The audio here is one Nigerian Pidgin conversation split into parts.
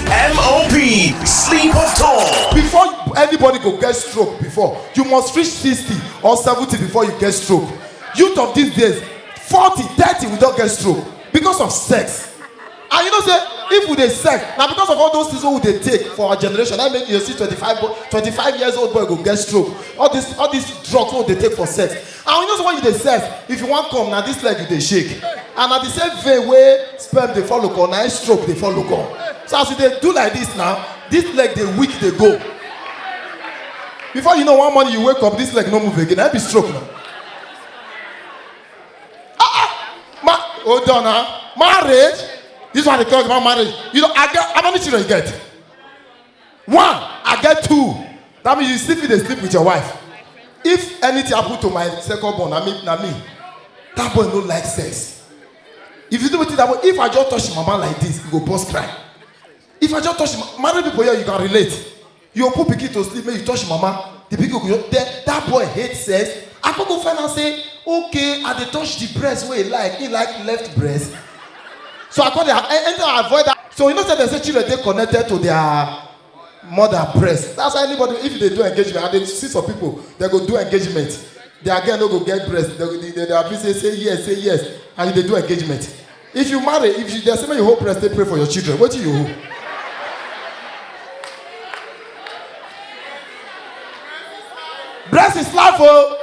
MOP, sleep of tall. Before anybody go get stroke before, you must reach 60 or 70 before you get stroke. Youth of these days, 40, 30 we don't get stroke because of sex. And you know say if we dey sex na because of all those things wey we dey take for our generation na make you dey see 25 bo- 25 years old boy go get stroke all this all this drugs wey we dey take for sex and you know say when you dey sef if you wan come na this leg you dey shake and na the same vein wey sperm dey follow come na im stroke dey follow come so as you dey do like this now this leg dey weak dey go before you know one morning you wake up this leg no move again na im be stroke na ah ah ma hold on na marriage this one dey talk about marriage you know i get how many children you get one i get two that means you still fit dey sleep with your wife if anything happen to my second born na me na me that boy no like sex if you do wetin that boy if i just touch him mama like this he go burst cry if i just touch him ma- married people here you can relate you go put pikin to sleep make you touch him mama the pikin go just then that boy hate sex i come go find out say okay i dey touch the breast wey he like he like left breast So I come dey a- anytime I avoid that. So you know say they say children dey connected to their mother breast. That's why anybody if they do engagement, I dey see some people they go do engagement. Their girl no go get breast. They they they, they happy say say yes say yes and you dey do engagement. If you marry, if you dey say make you hold breast, dey pray for your children. Wetin you hold? Breast is life o. Oh.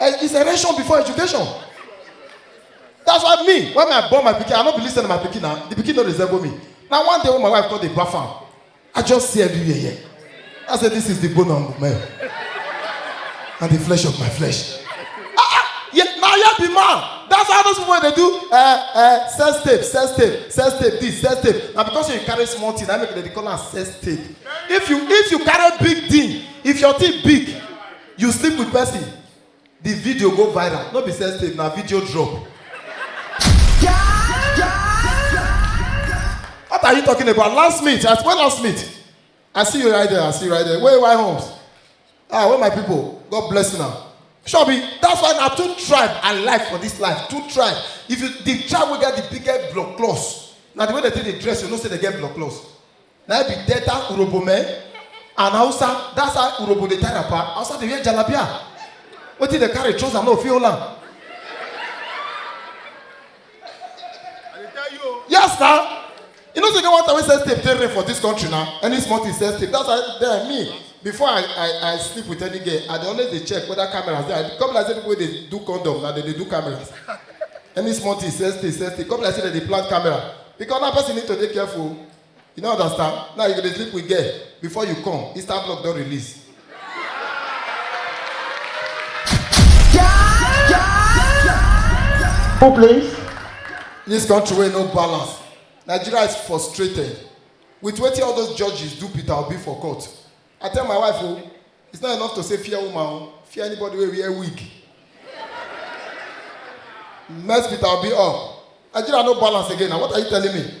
Eh, it's a ration before education. That's why me, when I born my pikin, I no be listen to my pikin now. The pikin no resemble me. Now one day when my wife called the bath am, I just see everywhere here. I said, this is the bone of my and the flesh of my flesh. Ah, ah, yeah, now you be man. That's how those people they do uh, uh, sex tape, sex tape, sex tape, this, sex tape. Now because you carry small thing, I make they call am sex tape. If you if you carry big thing, if your thing big, you sleep with person the video go viral no be sex tape na video drop what are you talking about last meet i when last meet i see you right there i see you right there wey why homes ah wey my people god bless una sure be that's why na two tribe i like for this life two tribe if you the tribe wey get the biggest blood cloth na the way they take dey dress you know say they get blood cloth na be delta urobo men and hausa that's how urobo dey tie wrapper hausa dey wear jalabia wetin dey carry trouser no fit hold am yes na you know say get one time wey sex tape dey rare for this country na any small thing sex tape that's why then me before i i i sleep with any girl i dey always dey check whether cameras dey i come be like say people wey dey do condom na dem dey do cameras any small thing sex tape sex tape come be like say dem dey plant camera because now person need to dey careful You don't understand? Now you go dey sleep with girl before you come, Easter block don release. Who plays? This country wey no balance. Nigeria is frustrated with wetin all those judges do Peter Obi for court. I tell my wife o, it's not enough to say fear woman o, fear anybody wey wear wig. Mess Peter Obi up. Nigeria no balance again na what are you telling me?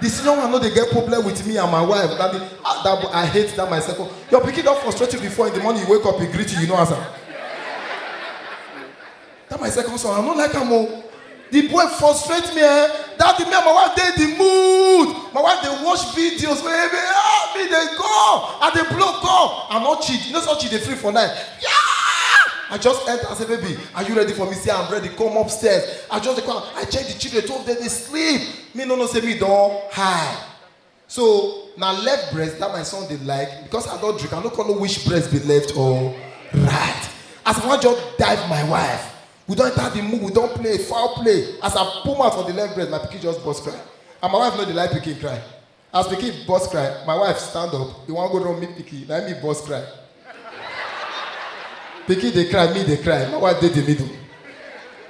The senior one no dey get problem with me and my wife. That, be, ah, that boy, I hate that my second. Your pikin don frustrate you before in the morning you wake up, he greet you, you no answer. That my second son, I no like am o. The boy frustrate me eh. That the me and my wife dey the mood. My wife dey watch videos wey me ah me dey go. I dey blow call. I no cheat. You know so cheat dey free for night. Yeah! I just enter and say, baby, are you ready for me? Say, I'm ready. Come upstairs. I just dey come. I check the children. Two of them dey sleep. me no know say me don high so na left breast that my son dey like because i don drink i no come know which breast be left or right as i wan just dive my wife we don enter the mood we don play foul play as i put mouth for the left breast my pikin just burst cry and my wife no dey like pikin cry As pikin burst cry, my wife stand up, e wan go run meet pikin, na me burst cry. pikin dey cry, me dey cry, my wife dey the middle.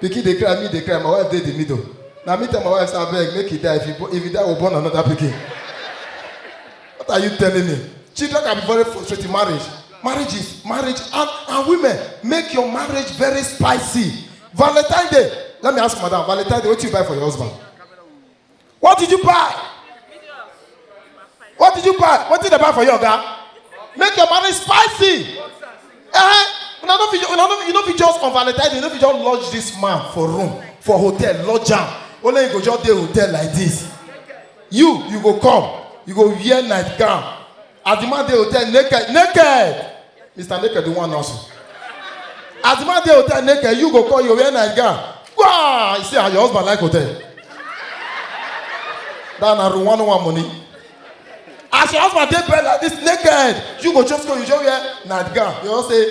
Pikin dey cry, me dey cry, my wife dey the middle. Na me tell my wife say abeg make he die, if he, bo- if he die, we born another pikin. What are you telling me? Children can be very frustrating. Marriage, marriage is marriage, and, and women make your marriage very spicy. Valentine Day. Let me ask madam, Valentine Day, what you buy for your husband? What did you buy? What did you buy? What did they buy for you, Oga? Make your marriage spicy. Eh? Una no fit, una no, you no fit just on Valentine's, you no fit just lodge this man for room, for hotel, lodge am. Only you go just dey hotel like this. You, you go come, you go wear nightgown, As the man dey hotel naked, naked. Mr. Naked, the one also. As the man dey hotel naked, you go call your wear night gown. Wow! You see how your husband like hotel. That na room one one money. As your husband dey bed like this naked, you go just go, you just wear night gown. You just say,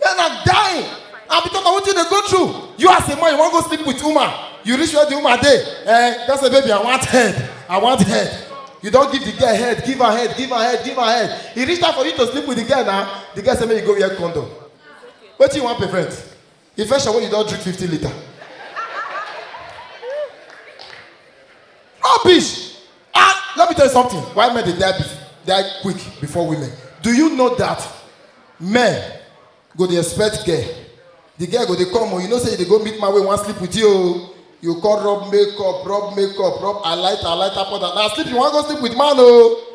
Men are dying. And because of what you dey go through, you as a man, you wan go sleep with woman. You reach where the woman dey. Eh, just say, baby, I want head. I want head. You don give the girl head, give her head, give her head, give her head. E reach time for you to sleep with the girl now. The girl say make you go wear condom. Wetin you wan prevent? Infection wey you don drink fifty litre. Rubbish! Ah, let me tell you something. Why men they die, die quick before women? Do you know that men go the expect girl? The girl go they come, oh, you know say they go meet my way, one sleep with you. Oh. You call rub makeup, rub makeup, rub I light, I light up that. Now sleep, you want to go sleep with man, oh.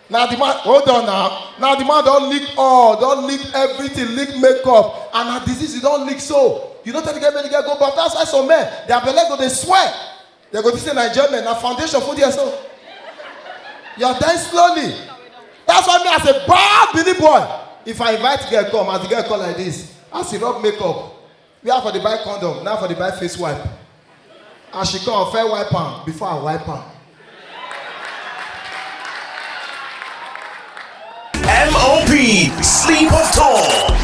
na the man hold on now na the man don lick all don lick everything lick makeup and na disease you don lick so you no tell the girl make the girl go baff that's why some men their belle go dey swell they go think say na enjoyment na foundation full there so you are dying slowly that's why me as a bad bini boy if i invite girl come as the girl come like this as he rub makeup where i for dey buy condom na i for dey buy face wipe as she come fair wipe am before i wipe am. MOP, sleep of Tom.